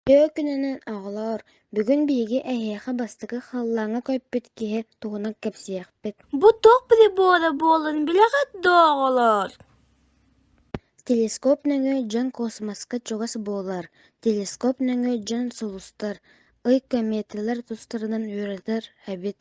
Дьэ күнүнэн оҕолоор, бүгүн биһиги эһиэхэ бастакы халлааҥҥа көппүт киһи тугунан кэпсиэхпит. Бу туох прибора буолан билэҕит дооҕолоор? Телескоп нөҥүө дьон космоска чугас буолар, телескоп нөҥүө дьон сулустар, ый кометалар тустарынан үөрэтэр эбит.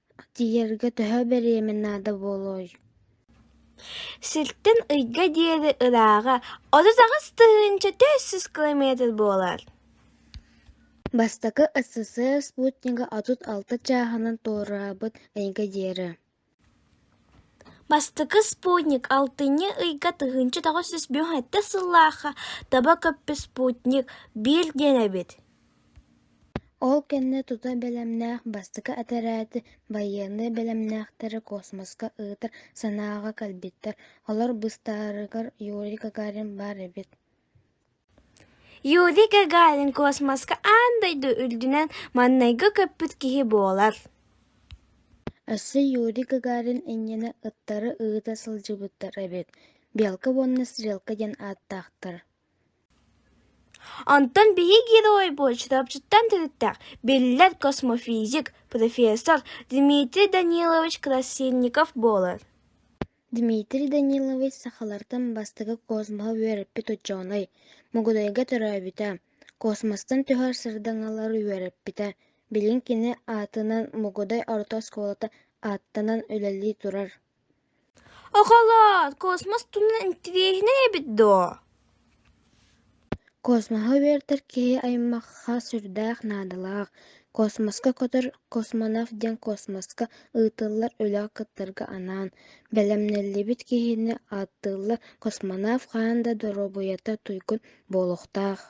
Тиийэргэ төһө бириэмэ наада буолуой Сиртэн ыйга диэри ырааҕа отут аҕыс тыһыынча төрт сүүс километр буолар Бастакы СССР спутнига отут алта чааһынан туораабыт ыйга диэри Бастакы спутник алтынньы ыйга тыһыынча тоҕус сүүс бүк сэттэ сыллаахха таба көппүт спутник Бир диэн эбит Ол кэннэ тута бэлэмнээх бастакы этэрээти байыаннай бэлэмнээхтэри космоска ыытар санааҕа кэлбиттэр, олор быстаарыгар Юрий Гагарин баар эбит Юрий Гагарин космоска аан дойду үрдүнэн маҥнайгы көппүт киһи буолар Өссө Юрий Гагарин иннинэ ыттары ыыта сылдьыбыттар эбит, белка уонна стрелка диэн ааттаахтар Онтон биһиги геройбут чурапчыттан төрүттээх, биллэр космофизик, профессор Дмитрий Данилович Красильников буолар Дмитрий Данилович сахалартан бастакы космоһы үөрэппит учуонай, Мугудайга төрөөбүтэ, космостан түһэр сырдаҥалары үөрэппитэ, билин кини аатынан Мугудай орто оскуолата ааттанан үлэлии турар Оҕолоор, космос туһунан интириэһинэй эбит дуо? Космоһа үөрэтэр киһи аймахха сүрдээх наадалаах. Космоска көтөр космонавт диэн космоска ыытыллар үлэҕэ кыттарга анаан бэлэмнэллибит киһини ааттыыллар. Космонавт хаһан да доруобуйата туйгун буолуохтаах.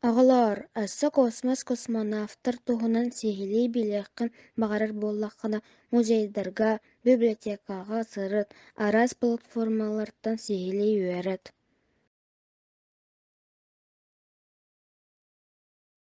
Оҕолоор, өссө космос космонавтар туһунан сиһилии билиэххин баҕарар буоллаххына, музейдарга, библиотекаҕа сырыт, араас платформалартан сиһилии үөрэт